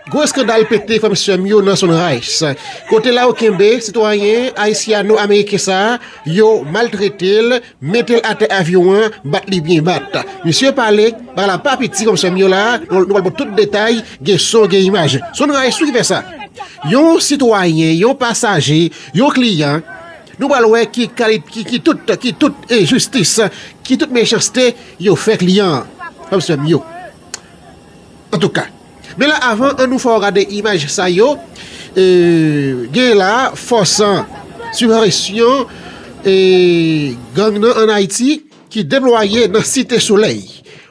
Gwo eskandal pete frè m sè m yo nan Sunrise kote la yo kenbe sitwayen ayisyano ameriken sa yo maltrete l mete l atè avyon an bat li byen bat misye pale bagay la pa piti frè m sè m yo la nou pral baw tout detay gen son gen imaj Sunrise wi ki fè sa yon sitwayen yon pasaje yon kliyan nou pral wè ki kalit ki tout ki tout enjistis ki tout mechanste yo fè kliyan an frè m sè m yo antouka. Men la avan an nou fè w gade imaj sa yo genyen la a fòs an sipresyon gang nan an Ayiti ki deplwaye nan site solèy.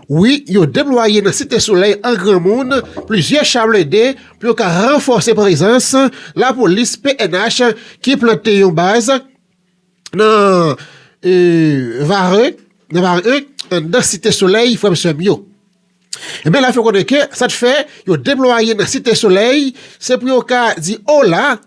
Wi yo deplwaye nan site solèy an granmoun plizyè cha blende pou yo ka ranfòse prezans lapolis pnh ki plante yon baz nan Varreux nan Varreux anndan site solèy frè m sè m yo. Ebyen l ap fè konnen ke sa t fè yo deplwaye nan Site Solèy se pou yo ka di ola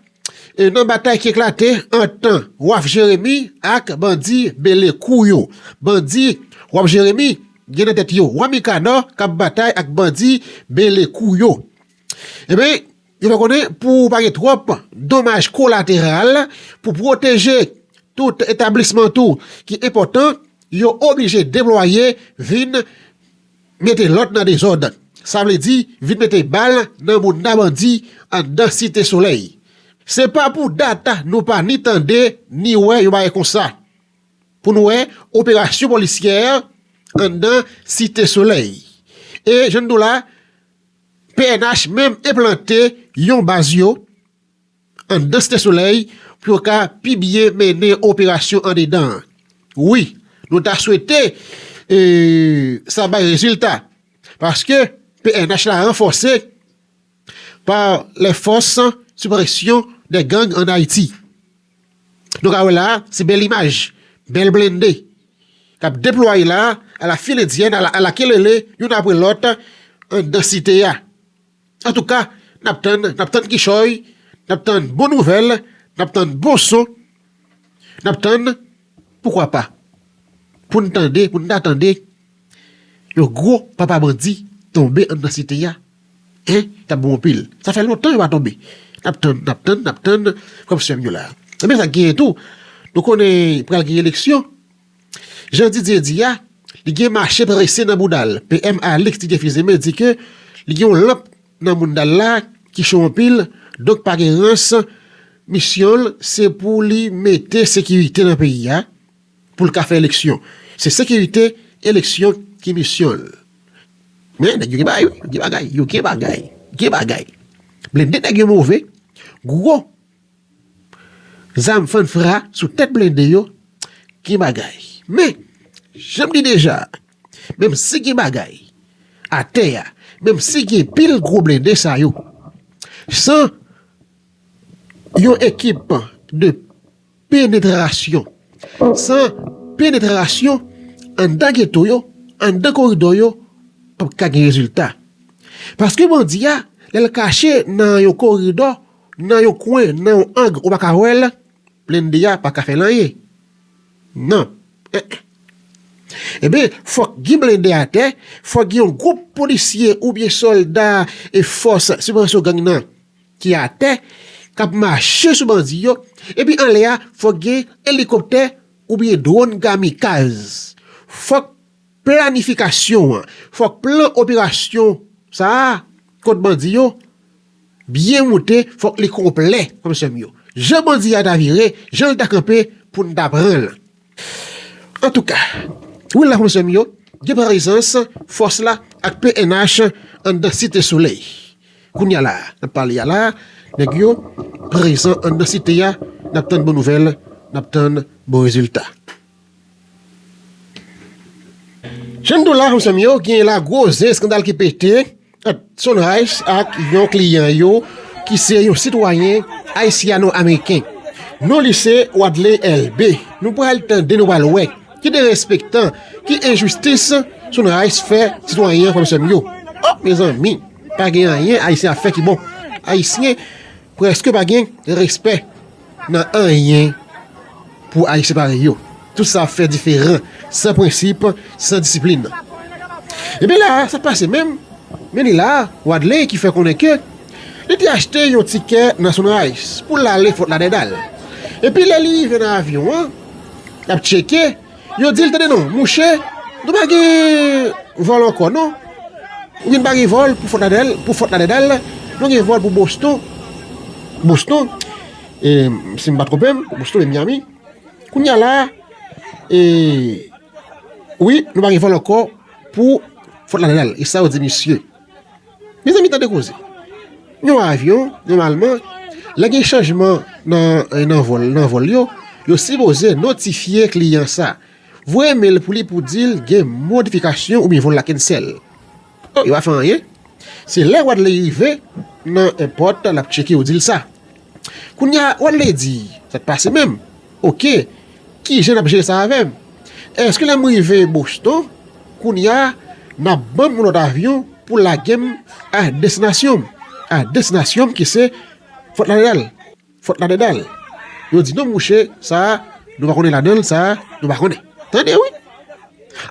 nan batay ki eklate ant tan Waf Jeremi ak bandi Belekou yo. Bandi Waf Jeremi gen nan tèt yo Wami Kanò k ap batay ak bandi Belekou yo. Ebyen. Yo fè konnen pou pa gen twòp donmaj kolateral pou pwoteje tout etablisman tou ki enpòtan, yo oblije deplwaye vin mete lòd nan dezòd. Sa vle di vin mete bal nan mounda bandi anndan Site Solèy. Se pa pou dat nou pa ni tande ni wè yon bagay konsa. Pou n wè operasyon polisyè anndan Site Solèy. E jan n di w la. Pnh menm enplante yon baz yo anndan Site Solèy pou yo ka pi byen mennen operasyon andedan an. Wi, nou ta swete sa bay rezilta paske pnh la ranfòse pa lè fòs sou presyon de gang ann Ayiti. Nou ka wè la a, se bèl imaj, bèl blende k ap deplwaye la a, ala fil endyèn, ala kelele, youn apre lòt, anndan site a. Antouka, n ap tann, n ap tann kichòy, n ap tann bon nouvèl, n ap tann bon son, n ap tann, poukwa pa, pou n tande, pou n ta tande yon gwo papa bandi tonbe anndan site a. Hein tap bon anpil sa fè lontan yo pa tonbe nap tann nap tann nap tann frèm sèm yo la ebyen sak genyen tou nou konnen pral gen eleksyon jan Didier di a li gen mache prese nan boudal PM Alix ti gen fizeme di ke li gen yon lanp nan moundal la ki cho anpil donk pa gen rans misyonl se pou li mete sekirite nan peyi a. pou l ka fè eleksyon. Se sekirite eleksyon ki misyon l. Men, nèg yo gen bagay wi, yo gen bagay, yo gen bagay, gen bagay. Blende nèg yo move, gwo zam fann fra sou tèt blende yo, gen bagay. Men, jan m di deja, menm si gen bagay, atè a, menm si gen pil gwo blende sa yo, san yon ekip de. Penetrasyon, San penetrasyon anndan geto yo, anndan koridò yo pap ka gen rezilta. Paske bandi a, lè l kache nan yon koridò, nan yon kwen, nan yon ang ou pa ka wè l, blende a pa ka fè l anyen. Non. En en. Enben, fòk gen blende atè, fòk gen yon gwoup polisye oubyen sòlda e fòs sibvansyon gang nan. ki atè k ap mache sou bandi yo epi anlè a fòk gen elikoptè oubyen dwòn kamikaz fòk planifikasyon an fòk plan operasyon sa a kont bandi yo byen moute fòk li konplè frèm sèm yo jan bandi a ta vire jan l ta kanpe pou n ta pran l. Antouka, wi la frè sè m yo, gen prezans fòs la ak pnh anndan Site Solèy. Kounye a la a, n ap pale a la a, nèg yo prezan anndan Site a, n ap tann bon nouvèl, n ap tann bon rezilta. Jan m di w la, frè m sè m yo, gen la gwo zen eskandal ki pete, ant Sunrise ak yon kliyan yo ki se yon sitwayen ayisyano-ameriken. Non li se Wadley Elbe. Nou pral tande, nou pral wè ki derespektan, ki enjistis Sunrise fè sitwayen an frè m sè m yo. Oh mezanmi pa gen anyen ayisyen ap fè ki bon. Ayisyen. Preske pa gen respè nan anyen pou Ayisyen parèy yo. Tout sa fè diferan, san prensip, san disiplin. Ebyen la a, sa k pase menm? Men li la a, Wadley ki fè konnen ke li te achte yon tikè nan Sunrise pou l ale Fort Lauderdale. Epi lè li rive nan avyon an, l ap tcheke, Yo di l, Tande non, mouche, nou pa gen vòl ankò non. Oubyen nou pa gen vòl pou Fòt Ladèdal, nou gen vòl pou Boston. Boston, si m pa twonpe m, Boston e Miyami. Kounye a la, wi, nou pa gen vòl ankò pou Fòt Ladèdal. E sa yo di misye. Mezanmi tande koze. Yon avyon nòmalman lè gen chanjman nan vòl nan vòl yo, yo sipoze notifye kliyan sa. Voye mail pou li pou dil gen modifikasyon oubyen vòl la cancel. Yo pa fè anyen. Se lè Wadley rive nan èpòt lap tcheke yo dil sa. Kounya old lady sak pase menm ok kijan nap jere sa avèm eske lèm rive Boston kounya nap banm yon lòt avyon pou lagem a destinasyonm a destinasyonm kise Fort Lauderdale Fort Lauderdale yo di non mouche sa nou pa konnen ladanl sa nou pa konnen tande wi.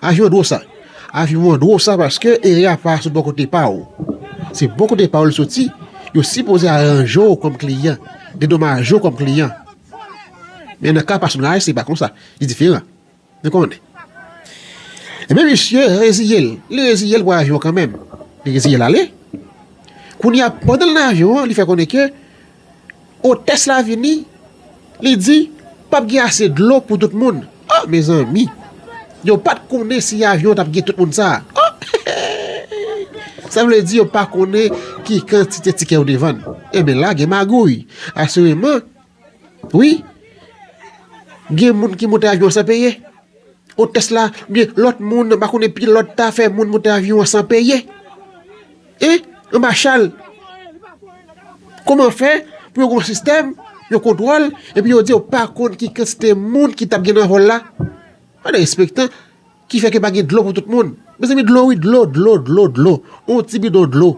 Avion dro sa. Avion an dro sa paske ere a pa sot bò kote pa ou. Se bò kote pa ou li soti, yo sipoze aranje ou kòm kliyan, dedomaje ou kòm kliyan. Men nan ka pasonaj se pa konsa, li diferan. Nou konnen. Enben misye reziye l, li reziye l pou avion kanmenm. Li reziye l ale. Kounye a pandan l nan avion an li fè konnen ke Otès la vini, li di, Pap gen ase dlo pou tout moun. O, mezanmi! Yo pa t konnen si avyon an t ap gen tout moun sa a. O, heheheh! Sa vle di yo pa konnen ki kantite tikè yo te vann. Enben, la gen magouy. Asireman, wi, gen moun ki monte avyon an san peye. Otès la, oubyen lòt moun, m pa konnen, pilòt ta fè moun monte avyon an san peye. E anba chal. Kouman fè pou yo gen yon sistèm, yon kontwòl, epi yo di yo pa konn ki kantite moun ki t ap gen nan vòl la? Pa gen enspektè ki fè ke pa gen dlo pou tout moun. Mezanmi dlo wi, dlo, dlo, dlo, dlo. Yon ti bidon dlo.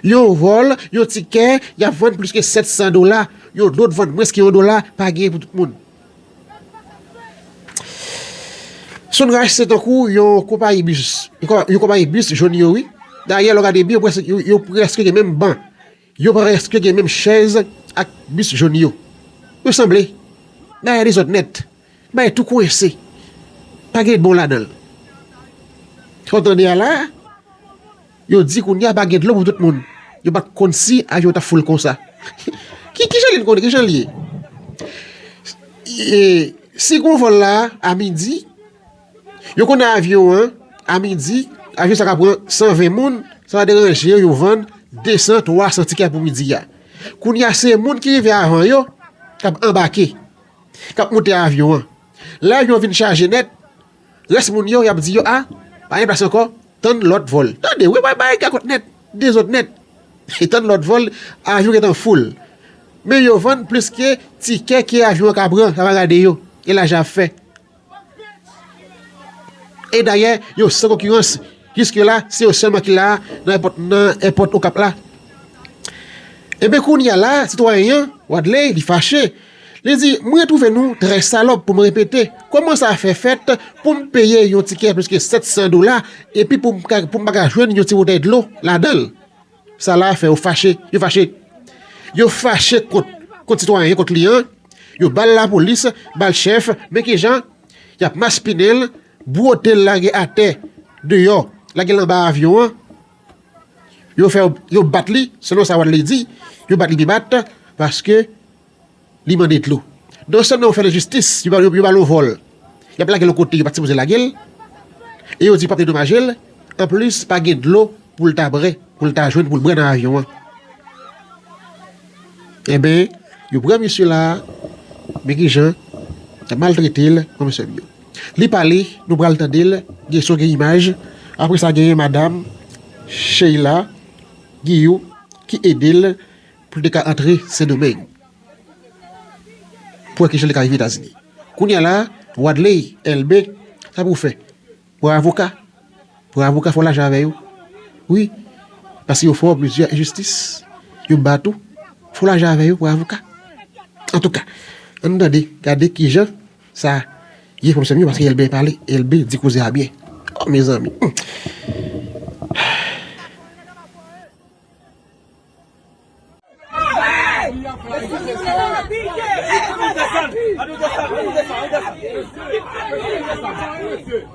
Yon vòl, yon tikè, y ap vann plis ke 700 dola. Yon dlo t vann mwens ke yon dola, pa gen pou tout moun. Sunrise se tankou yon konpayi bis, yon konpayi bis jòn yo wi. Dayè lè w gade byen yo prèske gen menm ban, yo prèske gen menm chèz ak bis jòn yo. Yo sanble. Bagay la dezòd nèt. Bagay tou kwense. Pa gen bon ladan l. Sa w tande a la a? Yo di kounya pa gen dlo pou tout moun. Yo pat konn si avyon tap full konsa. Kijan li konn kijan li ye? Si gon vol la a midi, yo konn nan avyon an a midi, avyon sa ka pran 120 moun, sa pa deranje yo, yo vann 200, 300 tikè pou midi a. Kounya se moun ki rive avan yo, kap anbake, kap moute avyon an. Lè avyon vin chaje nèt, Rès moun yo yap di yo ah pa gen plas ankò tann lòt vòl tande wi bagay ka kont nèt dezòd nèt tann lòt vòl avyon gentan full men yo vann plis ke tikè ke avyon an ka pran sa pa gade yo e lajan yap fè e dayè yo san konkirans jiske la se yo sèlman ki la nan èpòt okap la e ben kounya la sitwayen an wadley li fache. Li di, M retwouve nou trè salòp pou m repete. Kòman sa fè fèt pou m peye yon tikè plis ke 700 dola epi pou m pa ka jwenn yon ti boutèy dlo ladan l? Sa la fè yo fache. Yo fache. Yo fache kont kont sitwayen, kont kliyan. Yo ba l lapolis, ba l chèf. Men ki jan y ap maspinen l, bwote l lage atè deyò, lage l anba avyon an. Yo fè yo bat li, selon sa Wadley di, yo bat li pi bat paske li mande dlo. Non sèlman yo fè l enjistis, yo ba l yon vòl, y ap lage l yon kote yo pa t sipoze lage l e yo di yo pa p dedomaje l, anplis pa gen dlo pou l ta bre, pou l ta jwenn pou l bre nan avyon an. Enben, yo pran misye la a, men ki jan y ap maltrete l, non mesye m yo. Li pale nou pral tandel gen son gen imaj apre sa genyen madam Sheila Guilloux ki edel poul te ka antre sendomeng pou wè kijan li ka rive etazini kounya la Wadley Elbe sa pou fè pou avoka pou avoka fò lajan avè yo wi paske yo fè plizyè enjistis yo bat ou fò lajan avè yo pou avoka antouka ann tande gade kijan Sa ye pwofesè m yo paske Elbe pale Elbe di koze a byen oh mezanmi humm.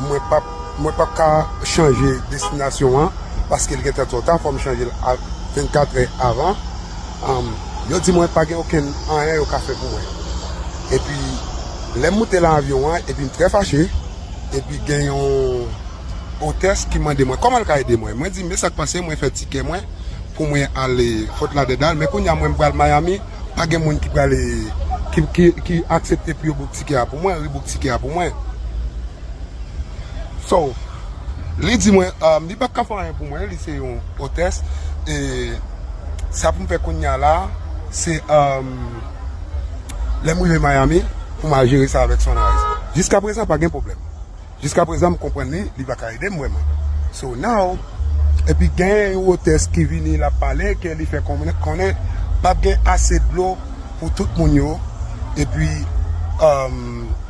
Mwen pap mwen pap ka chanje destinasyon an paske l gentan twò ta, fò m chanje l a 24 è avan. Yo di mwen pa gen okenn anyen yo ka fè pou mwen. Epi lè m moute lan avyon an epi m trè fache, epi gen yon otès ki mande mwen kòman l ka ede mwen. Mwen di m e sa k pase mwen fè tikè mwen pou mwen ale Fort Lauderdale men kounye a mwen pral Miami. Pa gen moun ki pral ki aksepte pou yo bouk tikè a pou mwen, rebook tikè a pou mwen. So, li di mwen, li pa ka fè anyen pou mwen, li se yon otès, e sa pou m fè kounya la, se lè m rive Miami, pou m al jere sa avèk Sunrise. Jiska prezan pa gen pwoblèm. Jiska prezan m konprann li, li pa ka ede m vrèman. So now, epi genyen yon otès ki vini l ap pale ke li fè konnen p ap gen ase dlo pou tout moun yo epi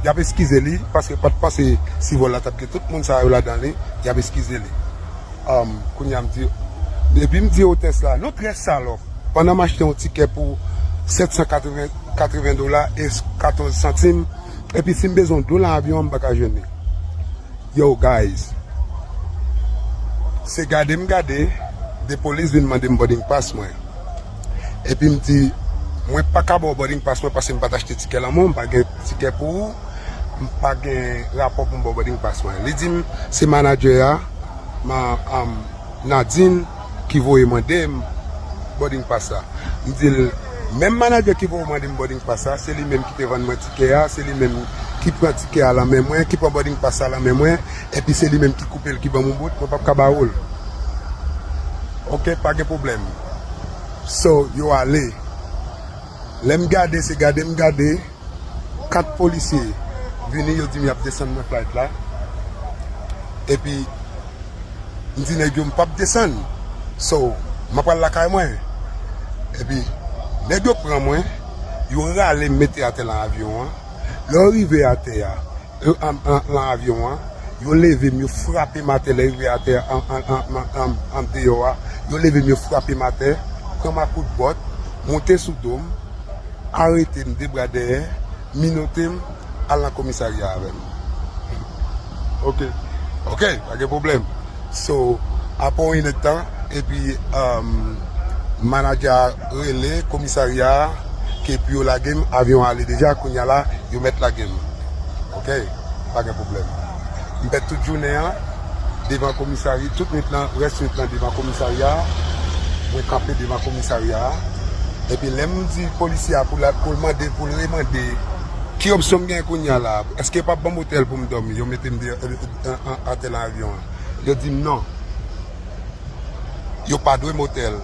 y ap eskize li paske yo pa t panse si vòl la t ap gen tout moun sa yo ladan li, y ap eskize li. Kounye a m di, epi m di otès la, nou trè salòp, pandan m achte yon tikè pou 780 dola e 14 santim, Epi sim bezwen dlo lan avyon an m paka jwenn li yow guys se gade m gade de polis vin mande m boarding pass mwen epi m di mwen paka baw boarding pass mwen paske m pat achte tikè lan mwen m pa gen tikè pou ou m pa gen rapò pou m baw boarding pass mwen li di m se manager a Nadine. ki voye mande m boarding pass la m di l menm manager ki voye w mande m boarding pass la se li menm ki te vann mwen tikè a se li menm ki pran tikè a lan men mwen ki pran boarding pass la lan men mwen epi se li menm ki koupe l ki ban m yon bout mwen pap ka ba ou l ok pa gen pwoblèm so yo ale lè m gade se gade m gade. 4 polisye vini yo dim yap desann mwen flight la epi mdi nèg yo mpap desann so map pral lakay mwen epi nèg yo pran mwen yo ralem mete atè nan avyon an lè yo rive atè a Nan avyon an, yo leve m, yo frape m atè lè rive atè an deyò a, yo leve m, yo frape m atè, pran m a kout bòt, moute sou do m, arete m de bra dèyè, minote m, al nan komisarya avè m. Ok. Ok, pa gen pwoblèm. So apre yon inèd tan epi manager a rele komisarya a ke pou yo lage m avyon an ale deja kounya la yo mèt lage m ok pa gen pwoblèm m pèd tout jounen an devan komisarya tout nwit lan rès nwit lan devan komisarya a mwen kanpe devan komisarya a epi lè m di polisye a pou l al mande pou l remande ki opsyon m gen kounya la eske yo pap ban m otèl pou m dòmi yo mete m deyò. atè nan avyon an. Yo di m non. Yo pa dwe motè l.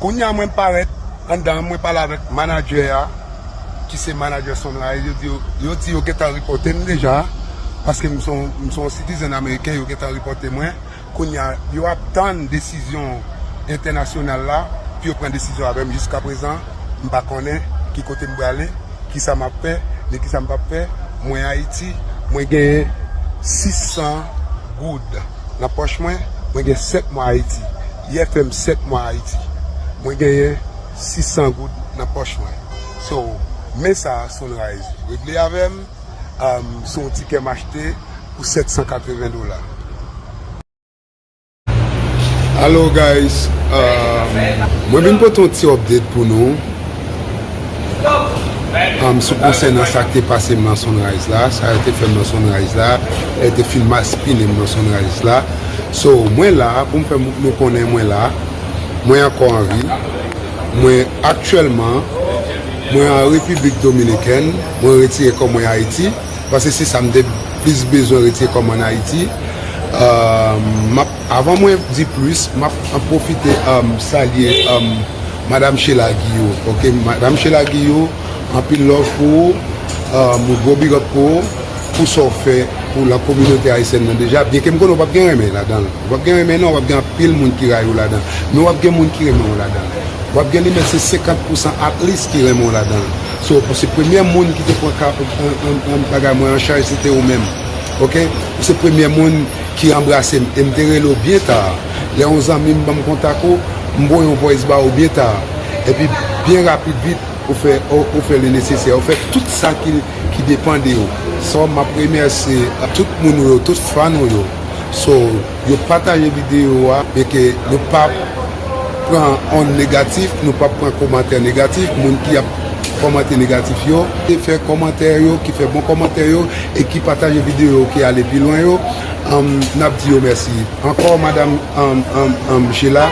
Kounye a mwen parèt anndan an, mwen pale avèk manadjè a, ki se manadjè Sunrise, yo di yo, yo di yo gentan ripòte m deja, paske m se yon sitizèn ameriken, yo gentan ripòte mwen. Kounya yo ap tann desizyon entènasyonal la pou yo pran desizyon avè m. Jiskaprezan, m pa konnen ki kote m prale, ki sa m ap fè, ni ki sa m p ap fè. Mwen Ayiti, mwen gen 600 goud nan pòch mwen, mwen gen 7 mwa Ayiti. Yè fè m 7 mwa Ayiti. Mwen genyen 600 goud nan pòch mwen. So, men sa Sunrise regle avè m, se yon tikè m achte. pou 780 dola. Hello guys Mwen vin pote yon ti update pou nou Sou konsènan sa k te pase m nan Sunrise la Sa yo te fè m nan Sunrise la Yo te fin maspinen m nan Sunrise la So mwen la pou m fè moun yo konnen mwen la Mwen ankò an vi Mwen aktyèlman Mwen an Repiblik Dominikèn Mwen retire kò mwen Ayiti Pase se sa m te plis bezwen retire kòm an Ayiti. Map avan mwen di plis map pwofite salye madam Shella Guillot ok madam Shella Guillot anpil love pou ou yon gwo big up pou ou pou sa w fè pou la kominote ayisyèn nan deja byen ke m konnen w pap gen renmen ladan l wap gen renmen nan wap gen anpil moun ki rayi w ladan l men wap gen moun ki renmen w ladan l wap gen li menm se 50 pousan at least ki renmen w ladan l. So pou se premye moun ki te pran ka an bagay mwen an chaj se te ou menm ok ou se premye moun ki anbrasem e m te rele w byen ta lè yon zanmi m banm kontak ou m voye yon voice ba ou byen ta epi byen rapid vit ou fè ou fè le nesesè ou fè tout sa ki depan de ou so map remèsye tout moun ou yo tout fan ou yo so. yo pataje video a e ke nou pa pran on negatif, nou pa pran komantè negatif, moun ki ap komante negatif yo, ki fè komantè yo, ki fè bon komantè yo e ki pataje video ki ale pi lwen yo, nap di yo mèsi. Ankò madam Sheila,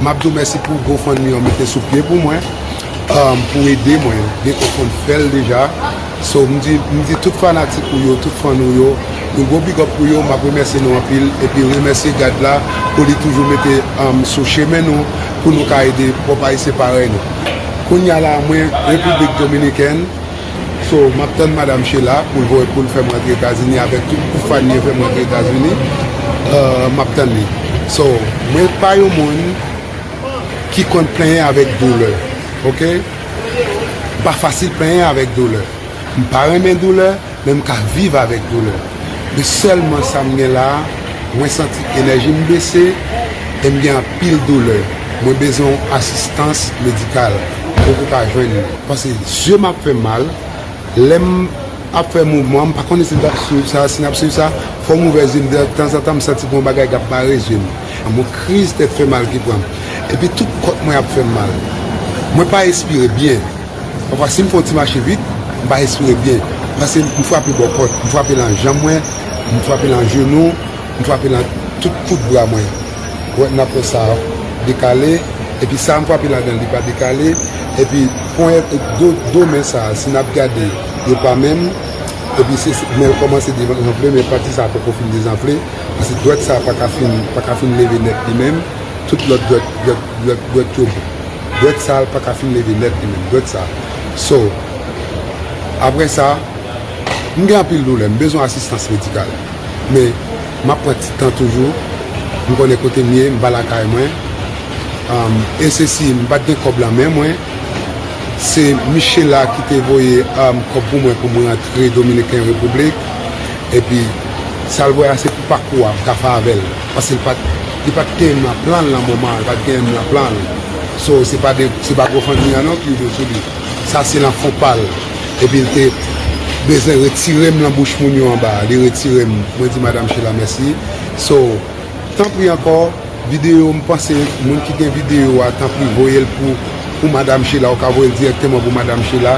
map di w mèsi pou GoFundMe an mete sou pye pou mwen, pou ede mwen, gen konprann fèl deja. So m di m di tout fanatik ou yo, tout fan ou yo, yon gwo big up pou yo, map remèsye nou anpil, epi remèsye God la pou li toujou mete sou chemen nou pou nou ka ede pwòp ayisyen parèy nou. Kounya la mwen Repiblik Dominikèn, so map tann madam Shela poul voye poul fèm rantre Etazini avèk tout gwoup fan li yo fèm rantre Etazini, map tann li. So mwen pa yon moun ki konn plenyen avèk doulè ok. M pa fasil penyen avèk doulè. M pa renmen doulè, men m ka viv avèk doulè. Men sèlman sa m gen la a, mwen santi enèji m bese e m gen anpil doulè. Mwen bezwen yon asistans medikal. Poko ka jwenn li. Pase zye m ap fè m mal. Lè m ap fè mouvman, m pa konnen si n ap swiv sa. Si n ap swiv sa, fò m ouvè zye m. Tanzantan m santi gen yon bagay k ap bare zye m. Lanmou kriz tèt fè mal ki pran m epi tout kòt mwen ap fè m mal. Mwen pa respire byen. Pafwa si m fè yon ti mache vit, m pa respire byen pase m frape bò kòt. M frape lan janm mwen, m frape lan jenou, m frape lan tout kout bra mwen. Ou wè m nan fè sa dekale epi sa m frape ladan l li pa dekale epi ponyèt do men sa si n ap gade yo pa menm epi se men l kòmanse devanfle men pati sa poko fin dezanfle. Paske dwèt sa paka fin paka fin leve nèt li menm tout lòt dwèt dwèt dwèt dwèt yo bon dwèt sa paka fin leve nèt li menm dwèt sa so aprè sa m gen anpil doulè m bezwen asistans medikal men map pran ti tan toujou m konnen kote m ye m pa lakay mwen am e se si m pat gen kòb lan men mwen se michela ki te voye am kòb pou mwen pou m rantre dominiken repiblik. Epi sal wè a se pou pakou a ka fè avèl paske li pat li pat knyen nan planl nan moman an li pat knyen nan planl so se pa de se pa gofundme an non ki rive sou li sa se nan fon pal epil te bezwen retirem nan bouch moun yo anba li retirem mwen di madam shela mèsi so tanpri ankò. Video m panse moun ki gen video a tanpri voyel pou pou madam Sheila ou ka voyel direkteman pou madam Sheila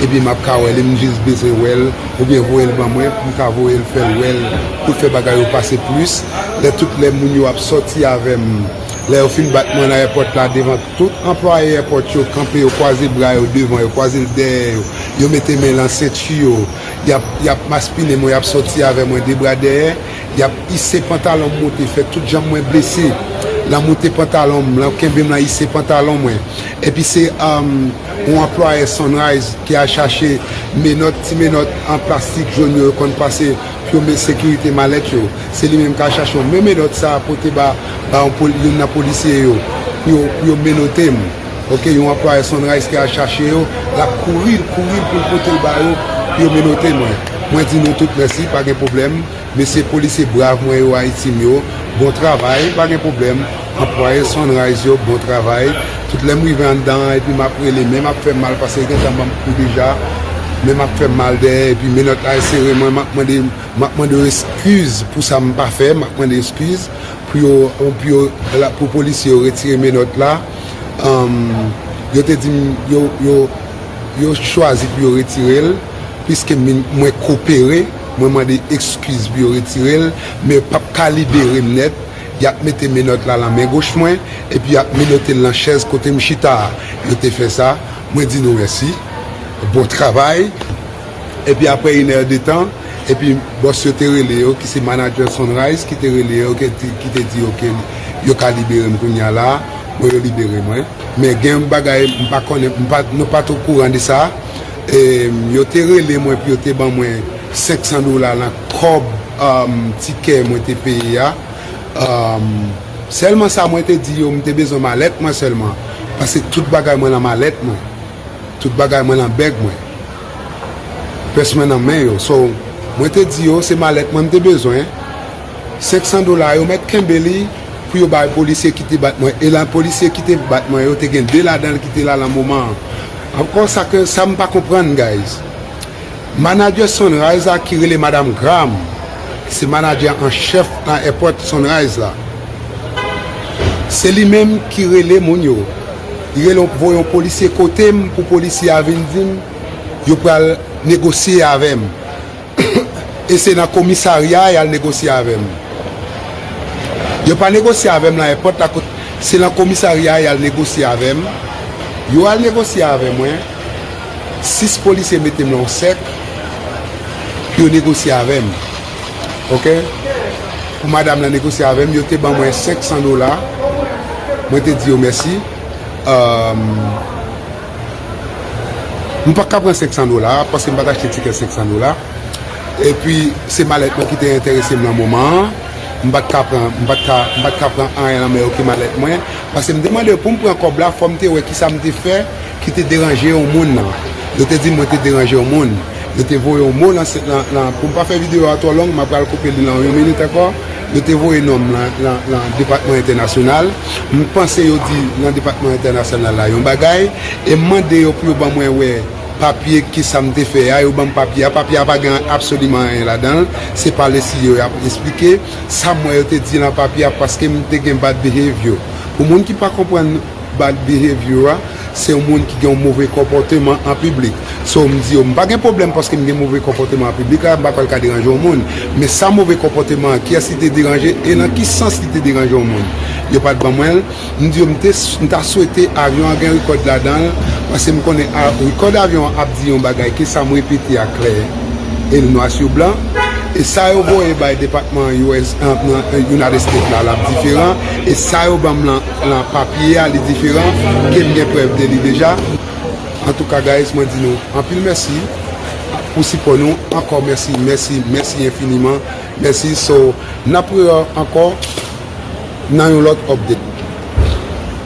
epi map ka wèl m jis bezwen wèl oubyen voyel ban mwen poum ka voyel fèl wèl poul fè bagay yo pase plis lè tout lè moun yo ap sòti avèm lè yo fin bat mwen nan èpòt la devan tout anplwaye èpòt yo kanpe yo kwaze bra yo devan yo kwazel dèyè yo yo mete men lan senti yo yap yap maspinen mwen yap sòti avè mwen de bra dèyè. Yap ise pantalon m moute fè tout janm mwen blese lan moute pantalon m lan kenbe m lan ise pantalon mwen epi se yon anplwayè Sunrise ki al chache menòt ti menòt an plastik jón yo yo konn pase pou yo met sekirite malèt yo se li menm kal chache yo men menòt sa pote ba yon nan polisye yo pou yo menote m. Ok yon anplwaye Sunrise te al chache yo lap kouri l kouri l pou l pote l ba yo pou yo menote mwen mwen di nou tout mèsi pa gen pwoblèm mesye polisye brav mwen yo Ayiti m yo bon travay pa gen pwoblèm anplwaye Sunrise yo bon travay tout lè m rive anndan an epi map rele men map fè mal paske gentan ban m kou deja men map fè mal dèyè epi menòt la sere mwen map mande map mande yo eskiz pou sa m pa fè map mande eskiz pou yo pou yo pou polisye yo retire menòt la. yo te di m yo chwazi pou yo retire l, piske mwen kopere, mwen mande ekskiz pou yo retire l, men yo pap ka libere m nèt, y ap mete menòt la lan men goch mwen, epi y ap menote l lan chèz kote m chita a. Yo te fè sa, mwen di nou mèsi, bon travay. Epi aprè yn è de tan, epi bòs yo te rele yo, ki se manager Sunrise ki te rele yo, ki te di yo ke yo ka libere m kounya la, bon yo libere mwen. Men gen yon bagay m pa konnen, m pa, nou pa t o kouran de sa, e yo te rele mwen pou yo te ban mwen 500 dola lan kòb tikè mwen te peye a. Sèlman sa mwen te di yo, m te bezwen malèt mwen sèlman, paske tout bagay mwen lan malèt mwen. Tout bagay mwen nan bèg mwen. Pès mwen nan men yo. So, mwen te di yo se malèt mwen m te bezwen. 500 dola yo mèt kenbe li pou yo bay polisye ki te bat mwen. E lan polisye ki te bat mwen yo te gen 2 ladan l ki te la lan moman an. Ankò sa ke sa m pa konprann guys. Manager Sunrise la ki rele Madam Graham se manager an chèf nan èpòt Sunrise la. Se li menm ki rele moun yo. Li rele yon voye yon polisye kote m pou polisye a vin di m yo pral negosye avè m. E se nan komisarya a y al negosye avè m. Yo pa negosye avè m nan èpòt la kot se nan komisarya a y al negosye avè m. Yo al negosye avè mwen. 6 polisye mete m lan yon sèk pou yo negosye avè m ok pou madam lan negosye avè m yo te ban mwen 500 dola mwen te di yo mèsi emm m pa t ka pran 500 dola paske m pa t achte tikè 500 dola epi se malèt mwen ki te enterese m lan moman an m pa t ka pran m pa t ka pran anyen lan men yo ki malèt mwen paske m te mande yo pou m pran kòb la fò m te wè kisa m te fè Ki te deranje yon moun nan. Yo te di mwen te deranje yon moun. Yo te voye yon mo nan. Pou m pa fè videyo a twò long, m apral koupe li nan yon minit ankò. Yo te voye non m nan depatman entènasyonal. M panse yo di nan depatman entènasyonal la yon bagay. E m mande yo pou yo ban mwen wè papye ki sa m te fè a. Yo ban m papye a. Papye a pa gen absoliman anyen ladan l. Se pale si yo y ap esplike. Sa m wè yo te di nan papye a paske m te gen bad behavior. Pou moun ki pa konprann. Bad behavior a se yon moun ki gen yon move konpòteman an piblik. So m di yo m pa gen pwoblèm paske m gen move konpòteman an piblik la m pa kwè l ka deranje yon moun. Men sa move konpòteman an kiyès li te deranje e nan ki sans li te deranje yon moun? Yo pa t ban mwen l. M di yo m te m ta swete avyon an gen rekòd ladan l paske m konnen a rekòd avyon an ap di yon bagay ke sa m repete a klè e l nwa su blan. E sa yo voye bay depatman US nan United States la l ap diferan e sa yo ban m lan Nan papye a li diferan ke m gen prèv de li deja. Antouka guys mwen di nou anpil mèsi pou sipò nou ankò mèsi mèsi mèsi enfiniman mèsi so nap re ankò nan yon lòt update.